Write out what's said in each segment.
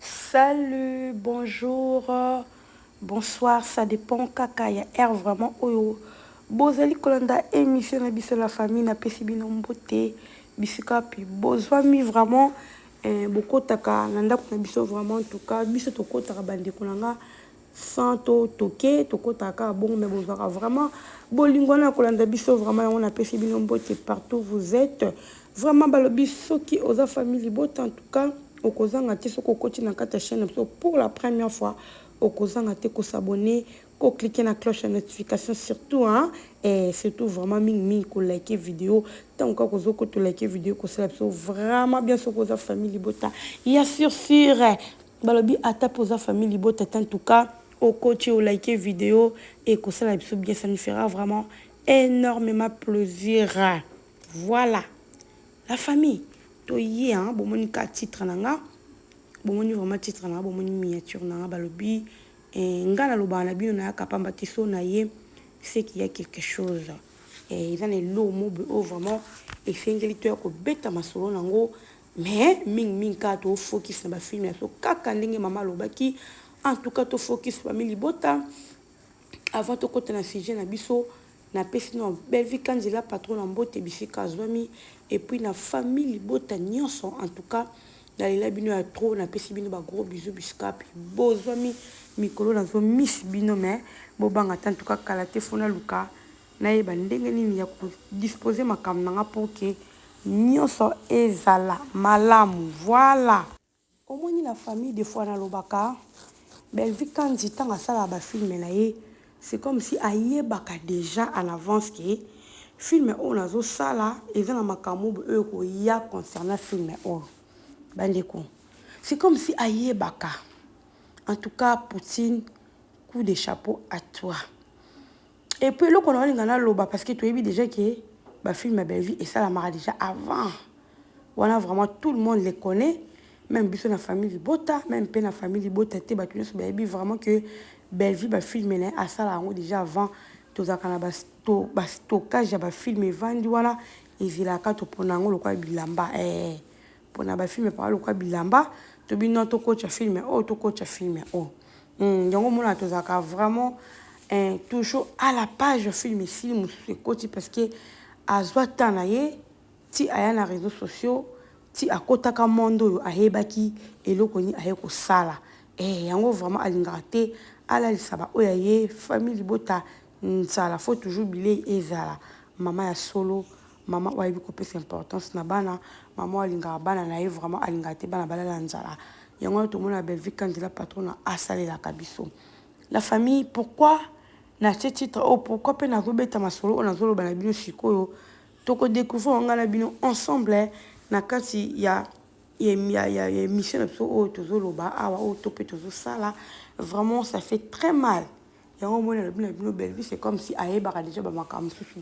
Salut bonjour bonsoir ça depend kaka ya heure vraiment oyo bozali kolanda emission na biso la famille na pesi bino mbote bisika pi bozwami vraiment eh, bokotaka na ndako na biso vraiment en tout cas biso tokotaka bandeko na nga sans to toke tokotaka kaka bongo mais bozwaka vraiment bolingo wana ya kolanda biso vraiment yango napesi bino mbote partout vous êtes vraiment balobi soki oza famille libota en tout cas okozanga te soki okoti na kati ya chaîne na biso pour la première fois okozanga te kosabonne koclike na cloche ya notification surtout hein, eh, surtout vraiment mingimingi kolike video ntango kaka kozokota olike video ekosala biso vraiment bien soki oza famille libota ya sur sur Balobi ata pe oza famille libota te en tout cas oko tie o like video eko sala biso bien ça nous fera vraiment enormement plaisir voilà la famille to ye hein bo moni ka titre na nga bo moni vraiment titre na nga bo moni miniature na nga balobi eh, nga na loba na bino na ya kapamba te so na ye c'est qu'il y a quelque chose eh, eza na eloo mobe oyo vraiment esengeli to ya kobeta masolo nango Mais mingi mingi kaka to focus na ba film ya so kaka ndenge mama alobaki en tout cas to focus famille libota avant to kota na sujet na biso na pesi na Bellevue Kanzela patron na mbote bisika azwami et puis na famille libota nyonso en tout cas na lela bino ya trop na pesi bino ba gros bisous bisika puis bozwami mikolo na zo miss bino mais bobanga ta en tout cas kala te fona luka Nayeba ndenge nini ya ko disposer makambo na nga pour que nionso ezala malamu. Voilà! Omoni la famille de fois nalobaka Bellevue Kandy tango asalaka ba films na ye c'est comme si ayebaka dejà en avance que film oyo nazo sala eza na makamub oyo ekoya concernant film oyo. Ba ndeko c'est comme si ayebaka. En tout cas Poutine coup de chapeau à toi. Et puis eloko na linga na loba parce que toyebi déjà que ba film ya Bellevue esalamaka déjà avant. Wana vraiment tout le monde les connaît. Même biso na famille libota, même pe na famille libota te batu nyonso bayebi vraiment que Bellevue ba film na asala yango déjà avant tozalaka na ba sto ba stockage ya ba film evandi wana ezelaka topona yango lokola bilamba eh. pona ba film epakola lokola bilamba to bino to kocha film ya oyo to kocha film ya oyo hmm, yango omonaka tozalaka vraiment eh, toujours à la page film esili mosusu ekoti parce que azwa temps na ye ti aya na réseaux sociaux ti akotaka monde oyo ayebaki eloko nini aye kosala eh, yango vraiment alingaka te alalisa baoyo ya ye famille libota nzala faut toujours bilei ezala mama ya solo Maman oyo ayebi kopesa importance na bana, maman oyo alingaka bana na ye vraiment, alingaka te bana balala nzala. Yango wana tomona Bellevue Kandela patrona asalelaka biso la famille. Pourquoi natie titre oyo? Pourquoi mpe nazobeta masolo oyo nazoloba na bino sikoyo? Toko decouvrir ngai na bino ensemble na kati ya ya, ya, ya emission na biso oyo tozoloba awa, oyo to mpe tozosala. Vraiment ça fait très mal. Yango omoni alobi na bino Bellevue c'est comme si ayebaka dejà ba makambo mosusu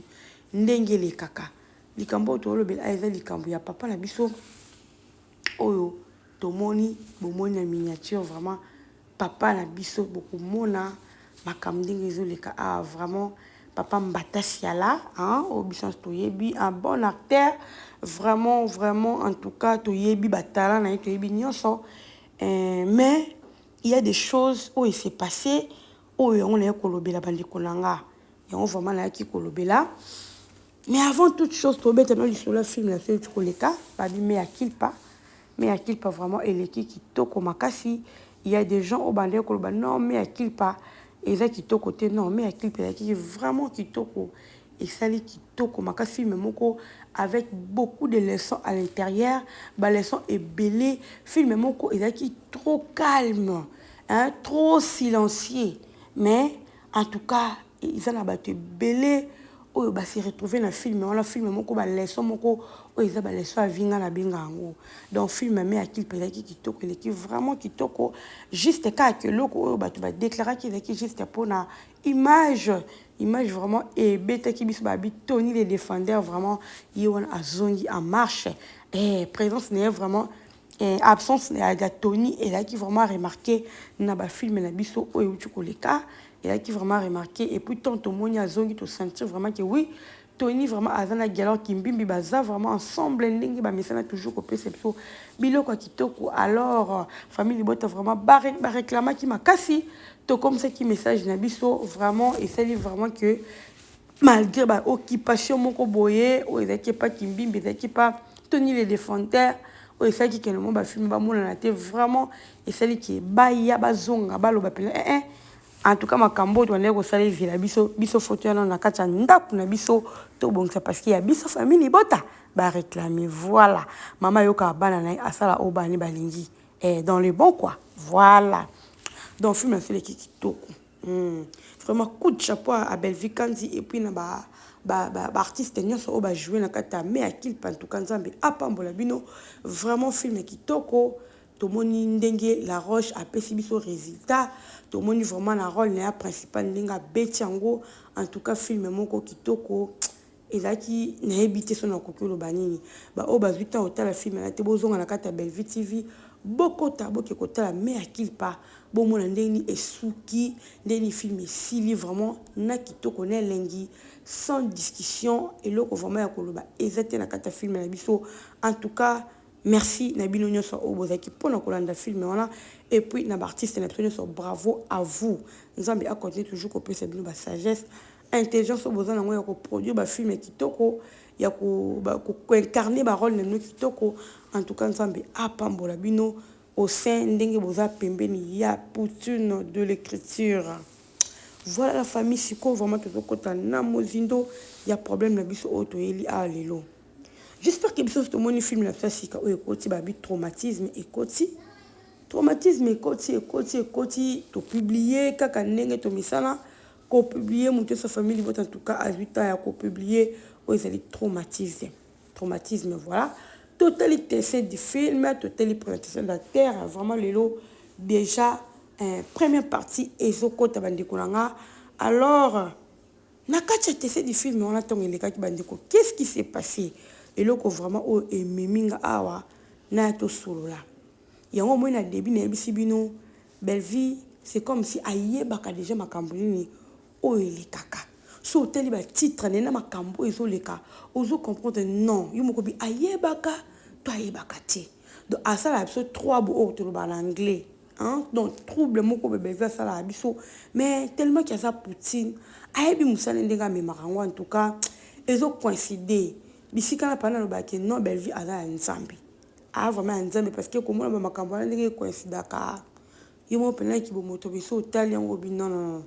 ndenge elekaka. Likambo oyo tolobela eza likambo ya papa na biso oyo tomoni bomoni na miniature vraiment papa na biso bokomona makambo ndenge ezoleka awa vraiment papa mbata siala hein, oyo biso nyonso toyebi un bon acteur vraiment vraiment en tout cas toyebi batalent na ye toyebi nyonso eh, mais Il ya des choses oyo e se passe oyo yango naye kolobela ba ndeko na nga yango vraiment nayaki kolobela mais avant toute chose tobeta no lisolo ya film na seuti koleka babi me ya kilpa me ya kilpa vraiment eleki kitoko makasi il ya des gens oyo bandaki koloba non me ya kilpa eza kitoko te non me ya kilpa elakiki vraiment kitoko Esali kitoko makasi film moko avec beaucoup de leçon à l'interieur ba leçon ebele film moko ezalaki trop calme hein trop silencieux mais en tout cas eza na bato ebele oyo ba se retrouver na film wana film moko ba leçon moko oyo eza ba leçon ya vie nga na benga yango donc film me ya clip ezalaki kitoko eleki vraiment kitoko juste kaka eloko oyo bato ba declaraki ezalaki juste mpona Image image vraiment ebetaki biso ba bi Tony le defender vraiment ye wana azongi en marche eh presence naye vraiment eh, absence ya, ya Tony elaki vraiment remarquer na ba film na biso oyo euti koleka elaki vraiment remarquer et puis tant tomoni azongi to sentir vraiment que oui Tony vraiment aza na guy alors kimbimbi baza vraiment ensemble ndenge ba mesana toujours ko pesa biso biloko ya kitoko alors famille libota vraiment ba ba reclamaki makasi to comme ça ki message na biso vraiment esali vraiment que malgré ba occupation moko boye oyo ezalaki epa kimbimbi ezalaki epa tony le defanter oyo esalaki ke namo bafilme bamonana te vraiment esali ke baya bazonga baloba mpena ee eh, eh, En tout cas makambo oyo tobandaki kosala ezela biso biso faut toya nano na kati ya ndako na biso tobongisa parce que ya biso famille libota ba reclamer voilà mama ayokaka bana na ye asala oyo bana ne balingi eh, dans le bon quoi voilà donc film asileki kitoko hmm. vraiment coup de chapeau à Bellevue Kanzi et puis na ba baartiste ba, ba nyonso oyo bajoue na kati ya me akilpa ntuka nzambe apambola bino vraiment film kitoko Tomoni ndenge Laroche apesi biso resultat, tomoni vraiment na role na ya principal ndenge abeti yango, en tout cas film moko kitoko, ezalaki nayebi te soki nakoki oloba nini, ba oyo bazui temps kotala film wana te bozonga na kati ya Bellevue TV, bokota boke kotala mea kilpa, bomona ndenge nini esuki, ndenge nini film esili vraiment na kitoko na elengi sans discussion, eloko vraiment ya koloba eza te na kati ya film na biso, en tout cas. Merci na bino nionso oyo bozalaki pona kolanda film wana et puis na ba artistes na biso nionso bravo à vous nzambe a continuer toujours kopesa bino ba sagesse intelligence oyo boza na yango ya ko produire ba film ya kitoko ya ko ba ko incarner ba role na bino kitoko en tout cas nzambe apambola bino au sein ndenge boza pembeni ya poutine de l'écriture voilà la famille sikoyo vraiment tozokota na mozindo ya problème na biso oyo toyeli awa lelo J'espère que biso tomoni film na biso ya sika oyo ekoti babi traumatisme ekoti traumatisme ekoti ekoti ekoti topublie kaka ndenge tomisala kopublie moto esa famille libota en tout cas azwi temps ya kopublie oyo ezali traumatisme traumatisme voilà totali tessin du film totali présentation d'acteur vraiment lelo déjà eh, première partie ezokota bandeko na nga alors Na kati ya tese du film wana tango elekaki ba ndeko qu'est ce qui se passe? Eloko vraiment oyo ememi nga awa naya tosolola yango omoni na debut nayebisi bino Bellevue c'est comme si ayebaka dejà makambu nini oyo elekaka soki otali ba titre naye na makambu oyo ezoleka ozo comprendre non yo moko bi ayebaka to ayebaka te donc asalaka biso trois bo oyo tolobaka na anglais Hein? Donc trouble moko bebe va sala à biso mais tellement qu'il y a ça poutine ayebi musala ndenge amemaka yango en tout cas ezo coïncider bisika na pana loba ke non Bellevue aza ya nzambe a vraiment ya nzambe parce que komona ba makambo wana ndenge coïncidaka yo moko mpenza kibomoto biso otali yango bi non non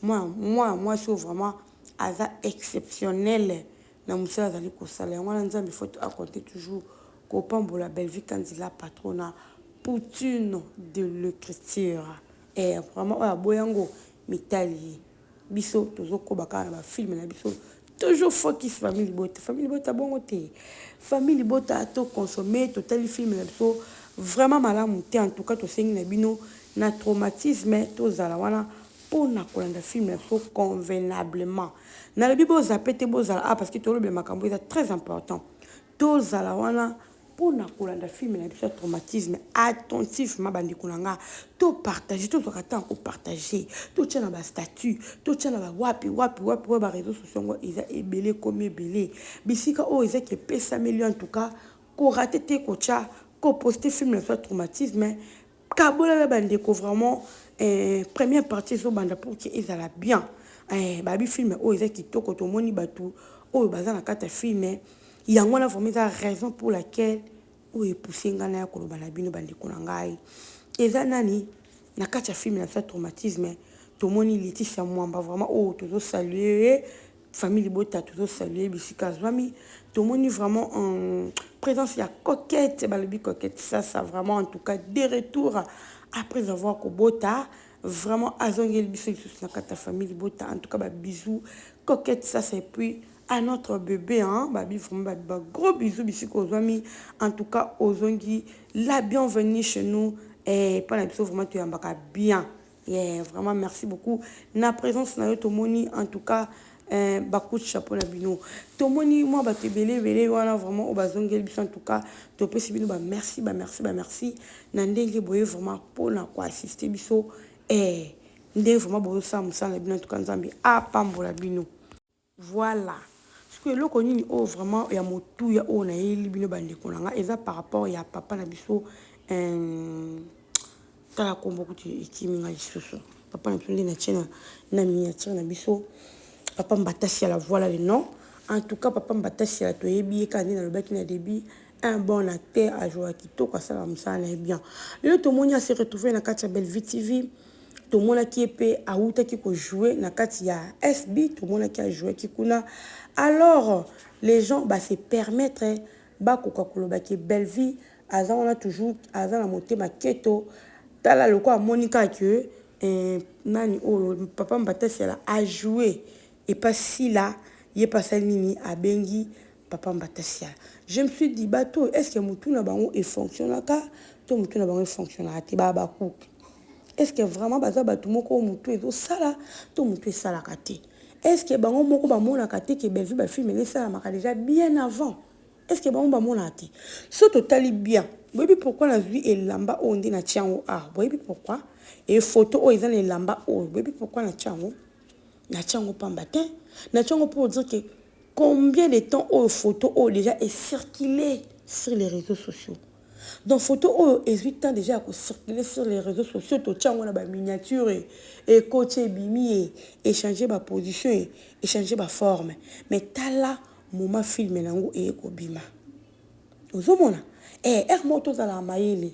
moi moi mwasi oyo vraiment aza exceptionnel na musala azali kosala yango wana nzambe il faut a compte toujours kopambola Bellevue Kandy la patrona poutine de l'ecriture eh vraiment oyo aboya yango mitali ye biso tozokoba kaka na bafilme na biso toujours focus famille libota famille libota bongo te famille libota to consommer totali filme na biso vraiment malamu te en tout cas tosengi na bino na traumatisme tozala wana pona kolanda film na biso convenablement nalobi bo zape te bozala awa parce que tolobela makambo eza très important tozala wana pona kolanda film na biso ya traumatisme attentivement bandeko na nga to partage tozwaka ntango kopartage totya na bastatut totya na bawapi wapi wapi oyo bareseau socio yango eza ebele ekomi ebele bisika oyo eza kepesameli en tout cas korate te kotya koposte film na biso ya traumatisme Kabola na ba ndeko vraiment eh, première partie ezo banda pour que ezala bien eh, babi film oyo eza kitoko tomoni batu oyo baza na kata film yango na vraiment eza raison pour laquelle oyo epousse nga na ya koloba na bino bandeko na ngai eza nani na kati ya film na biso ya traumatisme tomoni Laetitia Mwamba vraiment oyo tozo saluer Famille libota tozo saluer bisika azwami tomoni vraiment en présence ya coquette balobi coquette sasa vraiment en tout cas de retour après avoir kobota vraiment azongeli biso lisusu na kati ya famille libota en tout cas ba bisous coquette sasa et puis à notre bébé hein babi vraiment babi ba gros bisous bisika ozwami en tout cas ozongi la bienvenue chez nous eh, mpo na biso vraiment toyambaka bien Yeah vraiment merci beaucoup na presence na yo tomoni en tout cas eh, bakut chapeau na bino tomoni mwa bato ebele ebele wana vraiment oyo bazongeli biso en tout cas topesi bino bamerci bamerci bamerci na ndenge boye vraiment mpona koassiste biso eh, nde vraiment bozosala mosala na bino en tout cas nzambe apambola bino Voilà sikoyo eloko nini oyo vraiment ya motuya oyo nayeli bino ba ndeko na nga eza par rapport ya papa na biso euh, tala kombo kutu ekimi nga lisusu papa na biso nde na tiena na miniature na biso papa mbatasi ya la voilà le nom en tout cas papa mbatasi ya toyebi ye kaka nde nalobaki na début un bon acteur ajouaki kitoko asalaka mosala na ye bien lelo tomoni ase retrouve na kati ya bellevue tv tomonaki ye pe awutaki ko jouer na kati ya SB tomonaki a jouaki kuna alors les gens ba se permettre bakoka koloba ke Bellevue aza wana toujours aza na motema keto tala lokola amoni kaka ke eh, nani oyo papa Mbatasiala a jouer epa Sila ye pe asali nini abengi Papa mbata siala je me suis dit batu oyo est ce que mutu na bango e fonctionnaka to mutu na bango e fonctionnaka te ba habacuc est ce que vraiment baza batu moko oyo mutu ezo sala to mutu esalaka te est ce que bango moko ba monaka te ke Bellevue ba film na esalamaka dejà bien avant est ce que bango ba monaka te so totali bien boyebi pourquoi nazwi elamba oyo nde natya yango awa boyebi pourquoi e foto oyo eza na elamba oyo boyebi pourquoi natya yango natya yango pamba te natya yango mpo odire ke Combien de temps oyo photo oyo dejà e circule sur les reseaux sociaux? Donc photo oyo ezui temps dejà ya ko circuler sur les reseaux sociaux, to tia yango na ba miniature, ekoti ebimi e echanger ba position e echanger ba forme. Mais tala moment film na ngo eye ko bima. Ozo mona? Eh heure moko to zalaka mayele.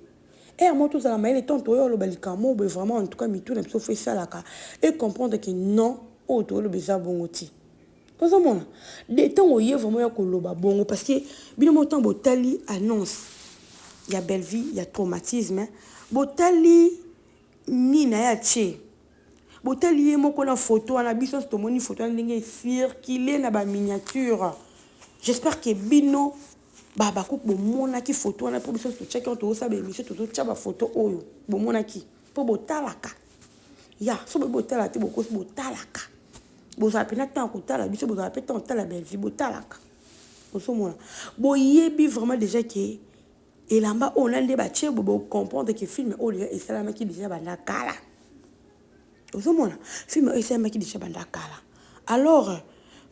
Heure moko to zala mayele tant oya oloba likambo moko boye vraiment en tout cas mitu na biso faut esalaka e comprendre que non oyo tozo loba eza bongo te. Ozo mona? De tango oye vraiment oya ko loba bongo parce que bino moko tango bo tali annonce ya Bellevue ya traumatisme bo tali nini naye atie? Bo tali ye moko na photo wana biso nionso to moni photo wana ndenge e circuler na ba miniature. J'espère que bino ba habacuc bo monaki photo wana po biso nionso to tiaki wana tozo sala ba emission tozo tia ba photo oyo bo monaki? Po bo talaka. ya so boyebi botala te bokosi botalaka bozala mpena ntango ya kotala biso bozala mpe ntango otala belvi botalaka ozomona boyebi vraiment déjà ke elamba oyo na nde batie bo bocomprendre ke filme oyo deja esalamaki deja banda kala ozomona filme oyo esalamaki deja banda kala alors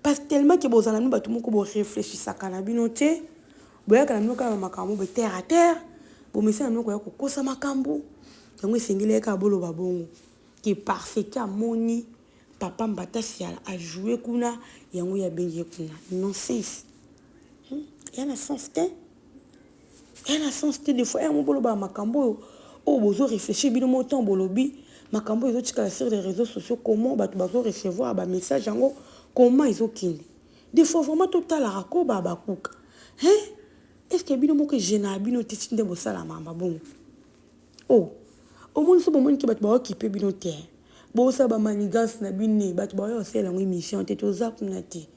parce tellement ke bozala no bato moko boreflechisaka na bino te Boyaka na bino kaka na makambo be terre à terre, bomesana na bino koya kokosa makambo, yango esengeli ye kaka boloba bongo que parce que amoni papa Mbata Siala a jouer kuna yango ye abengi ye kuna. Nonsense! Hum eya na sens te, eya na sens te, de fois yango bolobaka makambo oyo oyo bozo reflechir bino moko tango bolobi makambo oyo ezotikala sur les reseaux sociaux comment batu bazo recevoir ba messages yango comment ezokende? De fois vraiment to talaka koba habacuc hein est ce que bino moko je na bino te ti nde bosala mamba bongo oh omoni so bomoni ke bato baokipe bino te bosala bamanigance na bino ne bato baoya kosalela yango émission te toza kuna te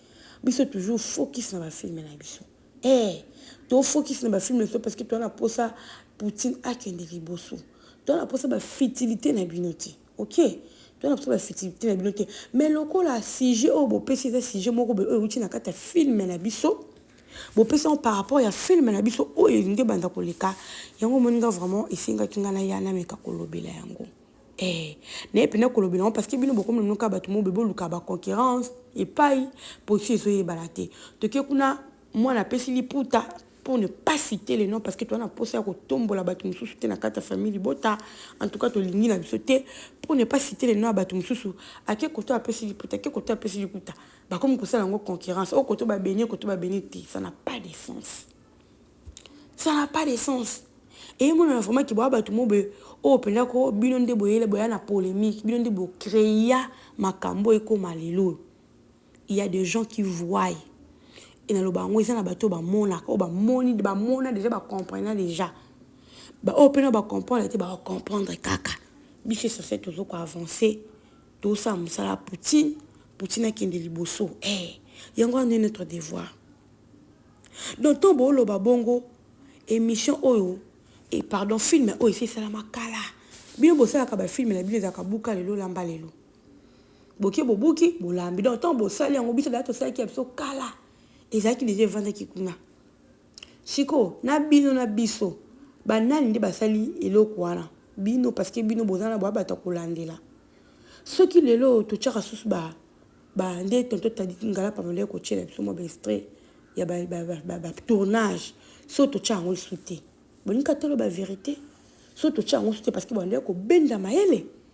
biso toujours focus na bafilme na biso eh tofocus na bafilme na biso parce que toza na mposa poutine akende liboso toza na mposa bafitilité na bino te Ok toza na posa ba futilite na bino te mais lokola sujet oyo bo pesi eza sujet moko boye oyo ewuti na kati ya film na biso bo pesi yango par rapport ya film na biso oyo elingi ebanda koleka yango omoni nga vraiment esengaki nga na ya na meka kolobela yango eh na ye pena kolobela yango parce que bino bokomi na noka bato mo boye boluka ba concurrence epai posi ezoyebana te toke kuna mwana apesi liputa pour ne pas citer le nom parce que toza na posa ya kotombola bato mosusu te na kati ya famille libota en tout cas tolingi na biso te pour ne pas citer le nom ya bato mosusu ake koto apesi liputa ake koto apesi likuta bakomi kosala yango concurrence oyo koto babenie koto babenie te ça n'a pas de sens ça n'a pas de sens eye monana vraiment ke boya bato mo boye oyo mpenza ko bino nde boyele boya na polémique bino nde bocreya makambo ekoma lelo oyo Il ya de gens qui voient et na loba yango eza na bato ba monaka oyo ba moni ba mona dejà ba comprena dejà ba oyo pe na ba comprendre te ba ko comprendre kaka biso essentiel tozo ko avancer tozo sala musala ya Poutine Poutine akende liboso eh yango wana nde notre devoir donc to bo loba bongo émission oyo et pardon film oyo esi esalama kala bino bosalaka ba film na bino ezalaka buka lelo lamba lelo boke bobuki bolambi donc ntango bosali yango biso deja tosalaki ya biso kala ezalaki deja evandaki kuna sikoyo na bino na biso banani nde basali eloko wana bino parceke bino boza na babato ya kolandela soki lelo oyo totyaka susu ba bande tonto tadiki ngala pamela ekotyela biso mwa baestrait ya batournage so totya yango lisu te bolingi katolo baverité so totya yango lisu te parceke bande kobenda mayele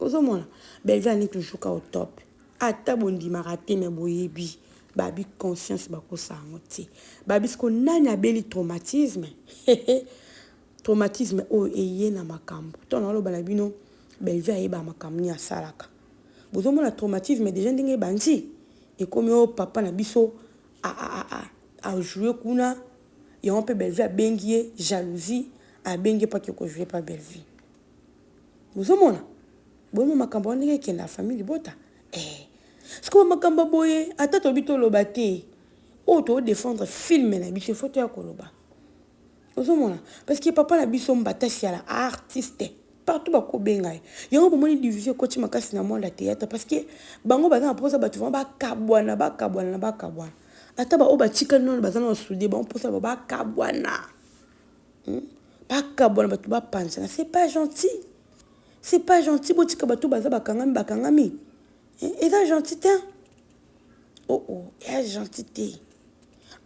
ozo mona Bellevue ani toujours ka au top ata bondimaka te mais boyebi babi conscience bakosa yango te babi siko nani abeli traumatisme traumatisme oyo eye na makambo to na oloba na bino Bellevue ayeba makambo ni asalaka bozo mona traumatisme déjà ndenge ebandi ekomi o oh, papa na biso a a a a a jouer kuna yango mpe Bellevue abengi ye jalousie abengi ye mpo ake kojouer mpa Bellevue Bozo mona? Boye ma makambo wana ndenge ekenda na famille libota? Eh. Sikoyo makambo boye ata tobi toloba te. Oyo to defendre film na biso faut toya koloba. Bozo mona? Parce que papa na biso mbatasi ya la artiste. partout bakobenga ye yango bomoni division ekoti makasi na monde ya théâtre parce que bango baza na mposa bato vraimen bakabwana bakabwana na bakabwana ata baoyo batikali nano baza na basude bango mposa ba bakabwana bakabwana bato bapanzana c'est pas gentil c'est pas gentil botika bato baza bakangami bakangami eza gentil te oo oh, oh, eza gentil te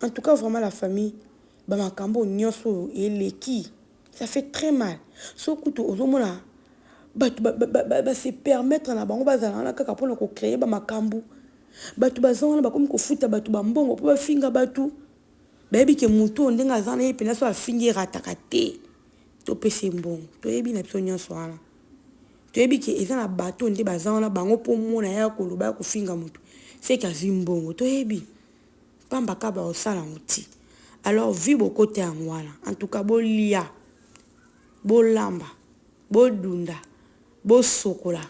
en tout cas vraiment la famille bamakambo nyonso oyo eleki ça fait très mal so kutu ozomona bato base permettre na bango bazala wana kaka mpona kocreye bamakambo bato baza wana bakomi kofuta bato bambongo mpo bafinga bato Bayebi ke mutu oyo ndenge aza na ye penza soki afingi erataka te. Topesa ye mbongo. Toyebi na biso nionso wana. Toyebi ke eza na batu oyo nde baza wana bango po omona ye aya koloba aya kofinga mutu ce ke azui mbongo. Toyebi. Pamba kaka bakosala yango ti. Alors vie bokota yango wana. En tout cas bolia, bolamba, bodunda, bosokola,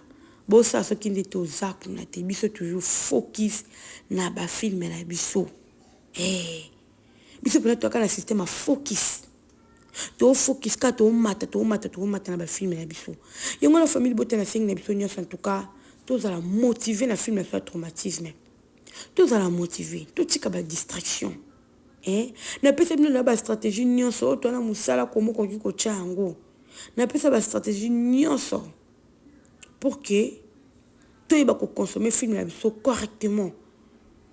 bosala soki nde toza kuna te. Biso toujours focus na ba films na biso. Hey, eh, biso mpena toyaka na système ya focus tofocus kaka tomata tomata tomata na bafilme na biso yango na famille bota na sengi na biso nyonso en tout cas tozala motive na filme na biso ya traumatisme tozala motive totika badistraction eh? napesa bino na bastratégie nyonso oyo twana mosala komo okoki kotya yango napesa bastratégie nyonso pour que toyeba ko consommer film na biso correctement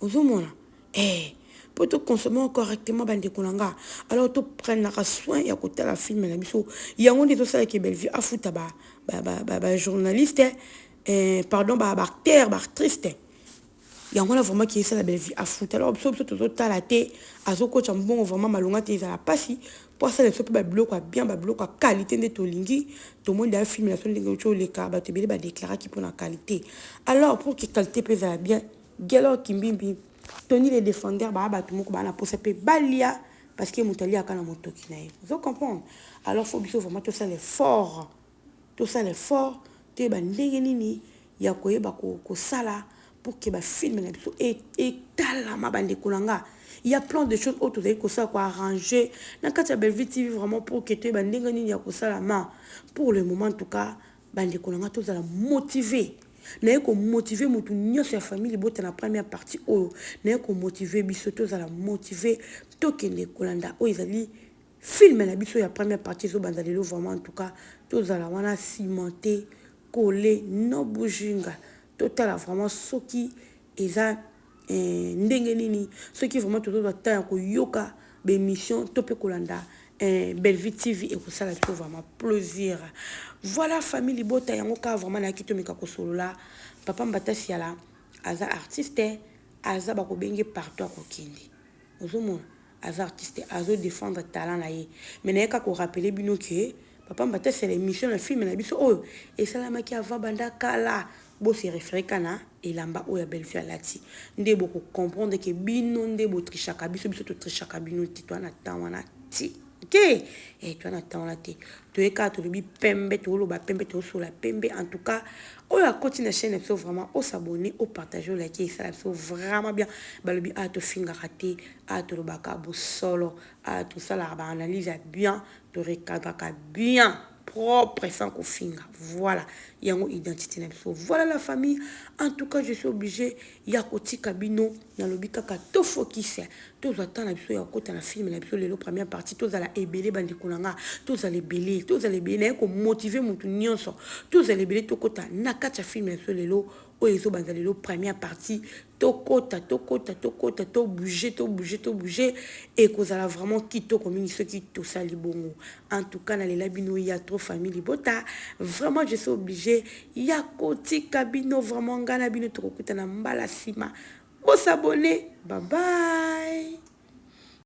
ozo mona eh po to consommer yango correctement ba ndeko na nga alors to prenaka soin ya kotala film na biso yango nde ezosala ke Bellevue afuta ba ba ba ba journaliste eh pardon ba ba acteur ba actrice te Yango wana vraiment ki esala Bellevue afuta alors biso biso tozo tala te azo kocha mbongo vraiment malonga te ezala pasi po asala biso pe ba biloko ya bien ba biloko ya qualite nde tolingi tomoni d'ailleurs film na biso ndenge euti oleka bato ebele ba declara ki pona qualite alors pour ki qualite pe ezala bien Guelor Kimbimbi Tony le defender baa bato moko baa na posa pe balia parce que moto aliaka na motoki na ye ozo comprendre alors faut biso vraiment tosala effort Tosala effort toyeba ndenge nini ya koyeba kosala pour que ba films na biso etalama ba ndeko na nga. Il ya plein de choses oyo tozali kosala ko arranger na kati ya Bellevue TV vraiment pour que toyeba ndenge nini ya kosala ma pour le moment en tout cas ba ndeko na nga tozala motiver. Naye ko motiver mutu nionso ya famille libota na première partie oyo naye ko motiver biso tozala motiver tokende kolanda oyo ezali Film na biso ya première partie ezo banda lelo vraiment en tout cas tozala wana cimenter coller no bujinga totala vraiment soki eza eh, ndenge nini soki vraiment tozozwa temps ya koyoka baémission to mpe kolanda eh, Bellevue TV ekosala biso vraiment plaisir voilà famille libota yango kaka vraiment nayaki tomeka kosolola papa Mbatasiala aza artiste aza bakobenge partout akokende Ozomona? Aza artiste azo defendre talent na ye mais naye kaka ko rappeler bino que Papa Mbata c'est l'emission na film na biso oyo esalamaki avant banda kala bo se referer kaka na elamba oyo ya Bellevue alati nde boko comprendre que bino nde bo trichaka biso biso to trichaka bino te toza na temps wana te. te eh, toza na temps wana te toye kaka tolobi pembe toloba pembe tosola pembe en tout cas oyo akoti na chaîne biso vraiment o s'abonner o partager o liker esala biso vraiment bien balobi a ah, tofingaka te a ah, tolobaka bosolo a ah, tosalaka ba analyse ya bien torecadraka bien propre sans kofinga voila yango identite na biso voila la famille en tout cas je suis obligé ya kotika bino na lobi kaka to focus tozwa temps na biso ya kokota na film na biso lelo première partie tozala ebele bandeko na nga tozala ebele tozala ebele naye komotive motu nyonso tozala ebele tokota na kati ya film na biso lelo oyo ezobanza lelo première partie Tokota, tokota, tokota, to bouger, to bouger, to bouger, ekozala vraiment kitoko mingi soki tosali bongo. En tout cas, nalela bino ya trop famille libota. Vraiment, je suis obligé ya kotika bino vraiment nga na bino tokokutana mbala sima. Bo s'abonner. Bye bye.